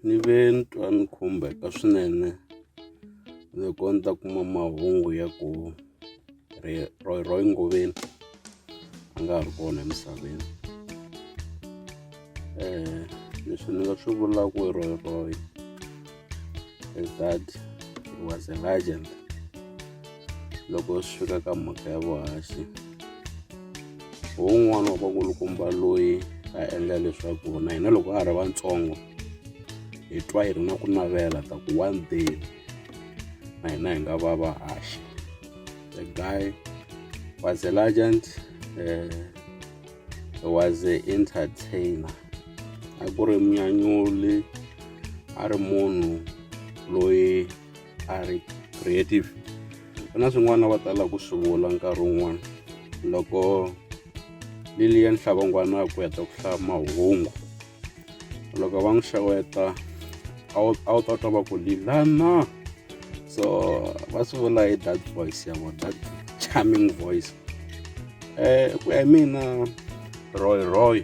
Ni ve ni twa ni khumbeka swinene loko ni ta kuma mahungu ya ku ri Roy Roy Ngoveni a nga ha ri kona emisaveni leswi ni nga swi vulaku hi Roy Roy. is that he was a legend loko swi fika ka mhaka ya vuhaxi hi wun'wana wa vakulukumba loyi a endla leswaku na hina loko a ri vantsongo hi twa hi ri na ku navela ta ku one day na hina hi nga va vahaxi the guy was a legend uh, was a entertainer a ku ri munyanyuli a ri munhu loyi a ri creative ku na swin'wana va tala ku swi vula nkarhi wun'wana loko liliya nhlava ngwana ku heta ku hlaya mahungu loko va n'wi xeweta a wu a wu ta twa va ku lilana so va swi vula hi that voice ya vona that charming voice um ku ya hi mina roy roy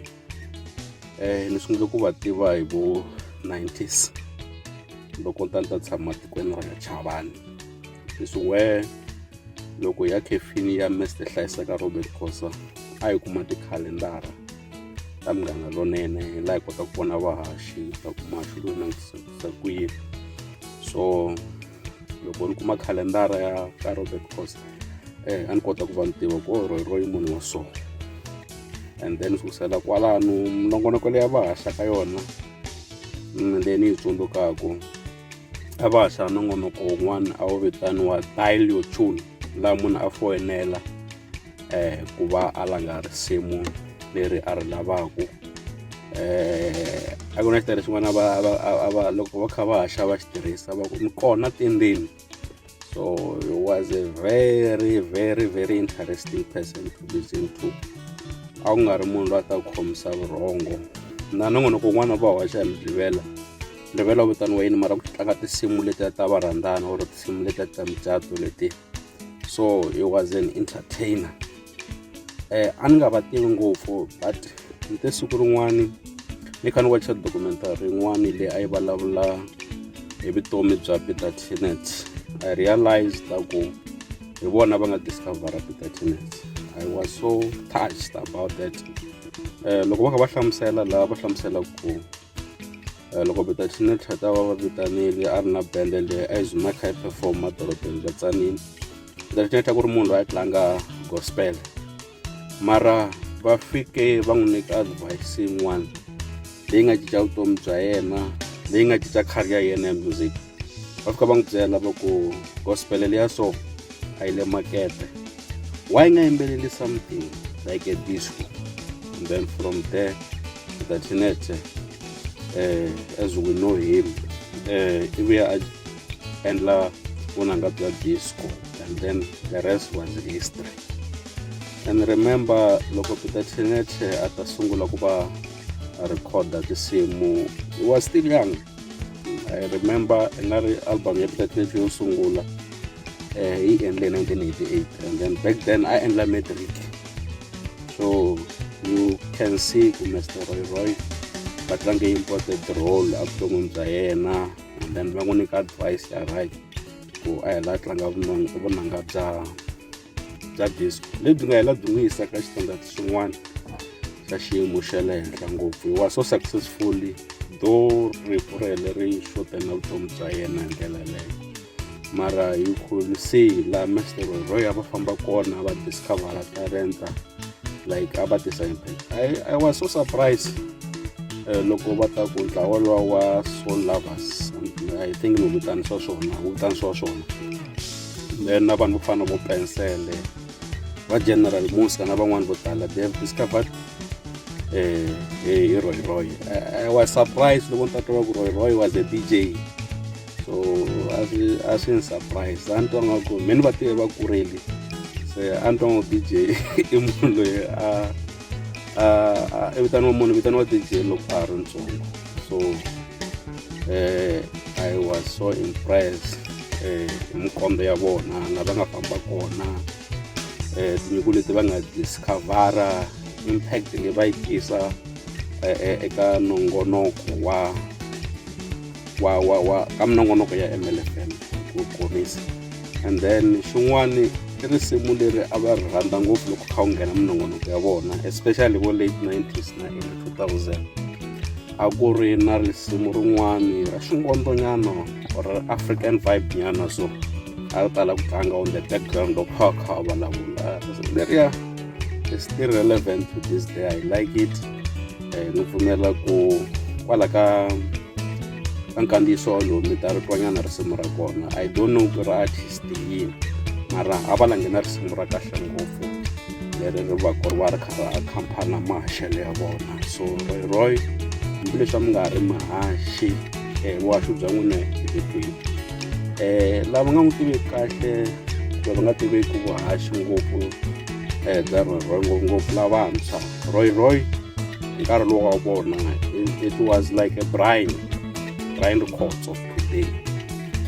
um ni sungule ku va tiva hi vo 90s loko ta ni ta tshama tikweni ra chavani leswi where loko ya khefini ya mester hlayiseka robert khosa a yi kuma tikhalendara ka munghana lonene hi laha hi kotaka ku vona vahaxi ta ku mahaxi loyi langutisa ku yini so loko ni kuma khalendara ya ka robert cost eh a ni kota ku va ni tiva ku oro oh, royi munhu wa so and then sukusela kwalano minongonoko leyi a va haxa ka yona mm, leyi ni yi tsundzukaka a va haxa nongonoko wun'wana a wu vitaniwa dial your tune laha munhu a foyinela eh ku va a langa risimu leri a ri lavaku eh a ku na xitirhi xin'wana va a va loko va kha va haxa va xi tirhisa va ku ni kona tindzimi so he was a very very very interesting person to listen to a ku nga ri munhu loyi a ta ku khomisa vurhongo na nongonoko un'wana va hoxa hi midlivela ndlivela vitaniwa yini mara ku tlanga tinsimu leti ta varhandzana or tinsimu leti ta micato leti so he was an entertainer eh a ni nga va tivi ngopfu but ni te siku rin'wani ni kha ni wacha documentary yin'wani leyi a yi vulavula hi vutomi bya peter tenet i realized ku hi vona va nga discovera peter tenet i was so touched about that um loko va kha va hlamusela laha va hlamusela ku Eh, loko betatine thata va va vitanile a ri na bende leyi a yi zuma kha yi perform madorobeni bya tsanini betatine thata ku ri munhu loyi a tlanga gospel mara va fike va n'wi nyika advice yin'wana leyi nga cinca vutomi bya yena leyi nga cinca career ya yena ya music va fika va n'wi byela va ku gospel leya so a yi le makete why nga yimbeleli something like a disco and then from there the tinete eh, as we know him eh, ivi a endla vunanga bya disco and then the rest was history and remember loko peter tinete a ta sungula ku va a recorda tinsimu he was still young i remember i nga ri album ya peter tete yo sungula um yi endle 1988 and then back then i endla matric so you can see ku mr roy roy va tlange important role evuton'wini bya yena and then va n'wi nyika advice ya right ku a hela a tlanga vunanga bya bya disco lebyi nga hela byi n'wi yisa ka xitandati xin'wana xa xiyimo xa le henhla ngopfu hi wa so successfully do rifu ra hele ri xote na vutomi bya yena hi ndlela leyo mara hi khulu se laha mastero roy a va famba kona va discovera talenta like a va tisa impact i, I was so surprised Eh, loko va ta ku ntlawa lowa wa soul lovers i think ni vitani swa swona wu vitani swa swona then na vanhu vo fana vo pensele va general musa na van'wani vo tala they have discovered eh, eh, hi roy roy I, i was surprised loko ni ta twa ku roy roy was a dj so a swi- a swi ni surprise a ni twa nga ku me ni va tive va kureli se a ni twa nga ku dj i munhu loyi a i vitaniwa munhu vitaniwa dj loko a ha ri ntsongo so eh, i was so impressed eh, hi mikombe ya vona la va nga famba kona eh, tinyiko leti va nga discovera impact leyi va yi tisa eh, eh, eka nongonoko wa wa wa wa ka minongonoko ya mlfn ku khorwisa and then xin'wana i risimu leri a va ri rhandza ngopfu loko kha wu nghena minongonoko ya vona especially vo late 90s na early 2000 a ku ri na risimu rin'wani ra xingondzonyana or african vibe nyana so a ri tala ku tlanga on the background loko kha kha va vulavula leriya is still relevant to this day i like it eh, ni pfumela ku kwala ka ka nkandziyiso lowu mi ta ri twanyana risimu ra kona i don't know ku ri artist yini mara a va langhena risimu ra kahle ngopfu leri ri va ku ri va ri khara khampana maxelo ya vona so royroy hambileswi a mi nga ri mahaxi um vuhaxi bya n'wina hi vikwini um lava nga n'wi tiveki kahle kumbe va nga tiveki vuhaxi ngopfu um bya royroy ngopfungopfu lavantshwa roy roy nkarhi lowu wa vona it was like a brian brian rikhotso today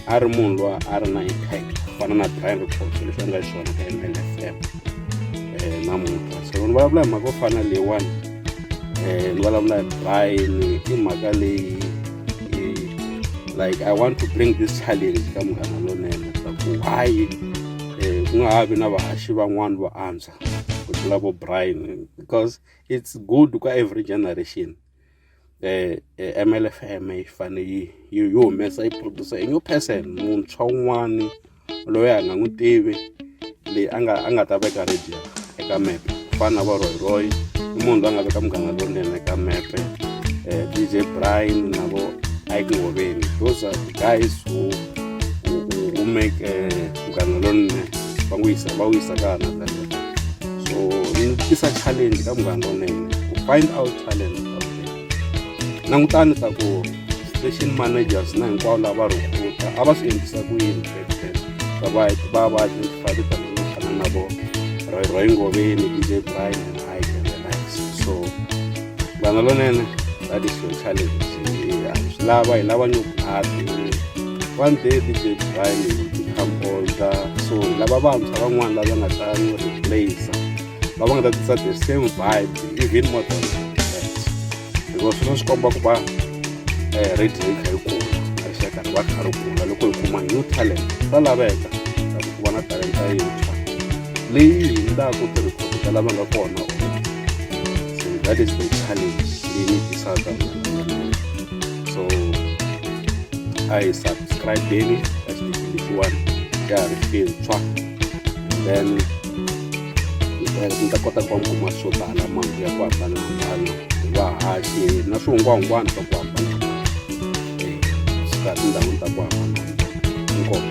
a ri munhu loyi a ri na impact ku fana na brian rikhotso leswi endla xiswona ka mlfm um namuntlha so ni vulavula hi mhaka yo fana leyiwani um ni vulavula hi brian i mhaka leyi like i want to bring this challenge ka munghana lonene swa ku hayi um ku nga ha vi na vahaxi van'wani vo antswa ku tlula vo brian because it's good ka every generation um mlfm yi fane yi yi humesa yi producer a new person muntshwa un'wani loyi a nga n'wi tivi leyi a nga a nga ta veka radio eka mepe ku fana na varhoyiroyi i munhu loyi a nga veka munghana lowunene eka mepe um dj brian na vo ike ngoveni those are the guys who, who, who make uh, munghana lonene va n'wi yisa va wu yisa ka another so ni tisa challenge ka munghana lonene ku find out talent langutani ta ku station managers na hinkwavo lava rhukuta a va swi endlisa ku yini va va va va identify titalent to fana na vo roy roy ngoveni dj brian and i can relax so vanhu lonene va ti-social a hi swi lava hi lava nyuku happy one day dj brian khamboza so hi lava vantshwa van'wana lava nga ta n'wi replace va va nga ta tisa the same vibe even more than because swi swi komba ku va eh, radio yi kha yi kula rixaka ri va kha ri kula loko hi kuma new talent swa laveka ku va na talenta yintshwa leyi hi ndlaku tirhikhoto ta lava nga kona So that is the challenge we need to solve So I subscribe daily, that's the one. Yeah, I feel track. Then ndza kota ku va kuma swo tala mahungu ya ku hambanahambana hi vahaki na swihungwahungwana swa ku hambanahambana swi kahle ndhawini ta ku hambanahambana inkomo